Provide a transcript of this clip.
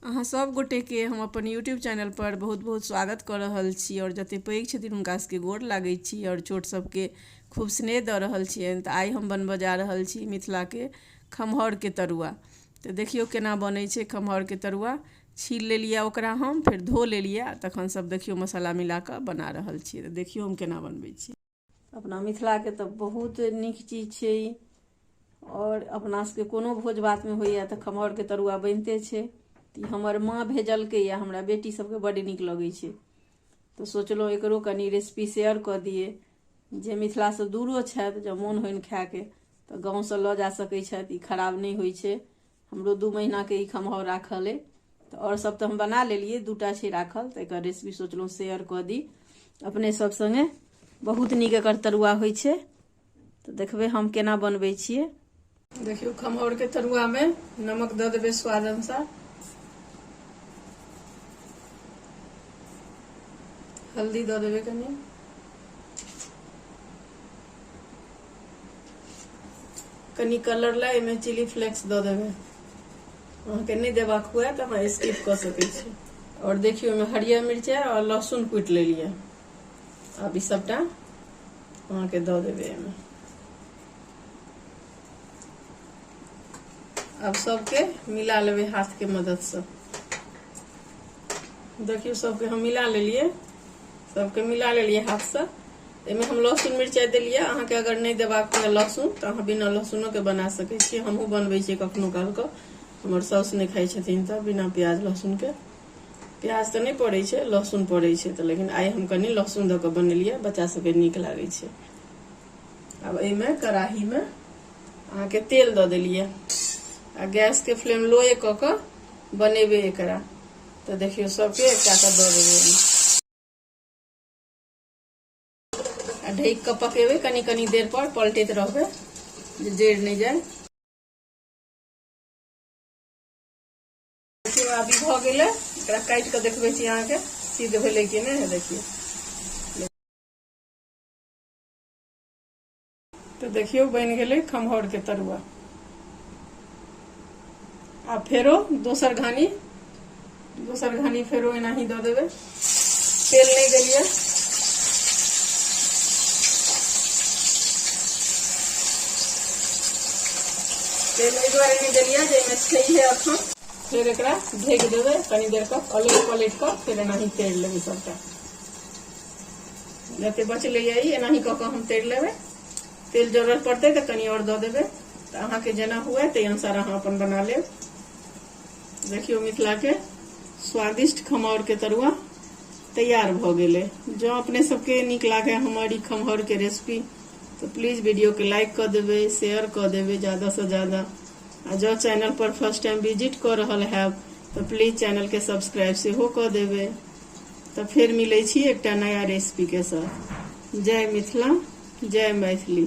अहाँ सब गोटे के हम अपन यूट्यूब चैनल पर बहुत बहुत स्वागत कऽ रहल छी आओर जते पैघ छथिन हुनका सबके गोर लागै छी आओर छोट सबके खूब स्नेह दऽ रहल छियनि तऽ आइ हम बनबऽ जा रहल छी मिथिला के खमहौर के तरुआ तऽ देखियौ केना बनै छै खमहौर के तरुआ छील लेलियै ओकरा हम फेर धो लेलियै तखन सब देखियौ मसाला मिला कऽ बना रहल छियै तऽ देखियौ हम केना बनबै छी अपना मिथिलाके तऽ बहुत नीक चीज छै ई आओर अपना सबके कोनो भोज भातमे होइए तऽ खमहरके तरुआ बनिते छै तऽ हमर माँ भेजलकै या हमरा बेटी सबके बड्ड नीक लगै छै तऽ सोचलहुँ एकरो कनि रेसिपी शेयर कऽ दिए जे मिथिलासँ दूरो छथि जँ मोन होइन खायके तऽ गाँवसँ लऽ जा सकै छथि ई खराब नहि होइ छै हमरो दू महीनाके ई खमहौर राखल अइ तऽ आओर सभ तऽ हम बना लेलियै दूटा छै राखल तऽ एकर रेसिपी सोचलहुँ शेयर कऽ दी अपने सभ सङ्गे बहुत नीक एकर तरुआ होइ छै तऽ देखबै हम केना बनबै छियै देखियौ खमहौरके तरुआमे नमक दऽ देबै स्वाद अनुसार हल्दी दऽ देबै कनि कनि कलर ला एहिमे चिली फ्लेक्स दऽ देबै अहाँके नहि देबाक हुए तऽ अहाँ स्किप कऽ सकै छी आओर देखियौ ओहिमे हरियर मिरचाइ आओर लहसुन कुटि लेलियै आब ई सभटा अहाँके दऽ देबै एहिमे आब सभके मिला लेबै हाथके मददसँ देखियौ सभके हम मिला लेलियै सभके मिला लेलियै हाथसँ एहिमे हम लहसुन मिरचाइ देलियै अहाँके अगर नहि देबाक यए लहसुन तऽ अहाँ बिना लहसुनोके बना सकैत छी हमहूँ बनबै छियै कखनो कालके हमर साउस नहि खाइ छथिन तऽ बिना प्याज लहसुनके प्याज तऽ नहि पड़ै छै लहसुन पड़ै छै तऽ लेकिन आइ हम कनि लहसुन दऽ कऽ बनेलियै बच्चा सभके नीक लागै छै आब एहिमे कड़ाहीमे अहाँके तेल दऽ देलियै आ गैसके फ्लेम लोए कऽ कऽ बनेबै एकरा तऽ देखियौ सभके एकटा कऽ दऽ देबै आ ढकि कऽ पकेबै कनि कनि देर पर पलटैत रहबै जे जरि नहि जाय अभी भऽ गेलै एकरा काटि कऽ देखबै छी अहाँके सिद्ध भेलै कि नहि देखियौ तो देखियो बन गए खमहौर के तरुआ आ फेरो दोसर घानी दोसर घानी फेरो एना ही दे देवे तेल नहीं दिलिए तेल एहि दुआरे नहीं दिलिए जाहिमे छै है अखन फिर एक ढेक देवे कनी देर तक अलग पलट कर फिर एना ही तेल लेबे सबटा जते बचले ये ई एनाही कऽ कऽ हम तैर लेबै तेल जरूरत पड़तै तऽ कनि आओर दऽ देबै तऽ अहाँके जेना हुए ताहि अनुसार अहाँ अपन बना लेब देखियौ मिथिलाके स्वादिष्ट खमौरके तरुआ तैयार भऽ गेलै जँ अपने सबके नीक लागै हमर ई खमहौरके रेसिपी तऽ प्लीज वीडियोके लाइक कऽ देबै शेयर कऽ देबै ज्यादासँ ज्यादा आ जँ चैनलपर फर्स्ट टाइम विजिट कऽ रहल हैब तऽ प्लीज चैनलके सब्सक्राइब सेहो कऽ देबै तऽ फेर मिलै छी एकटा नया रेसिपीके साथ जय मिथिला जय मैथिली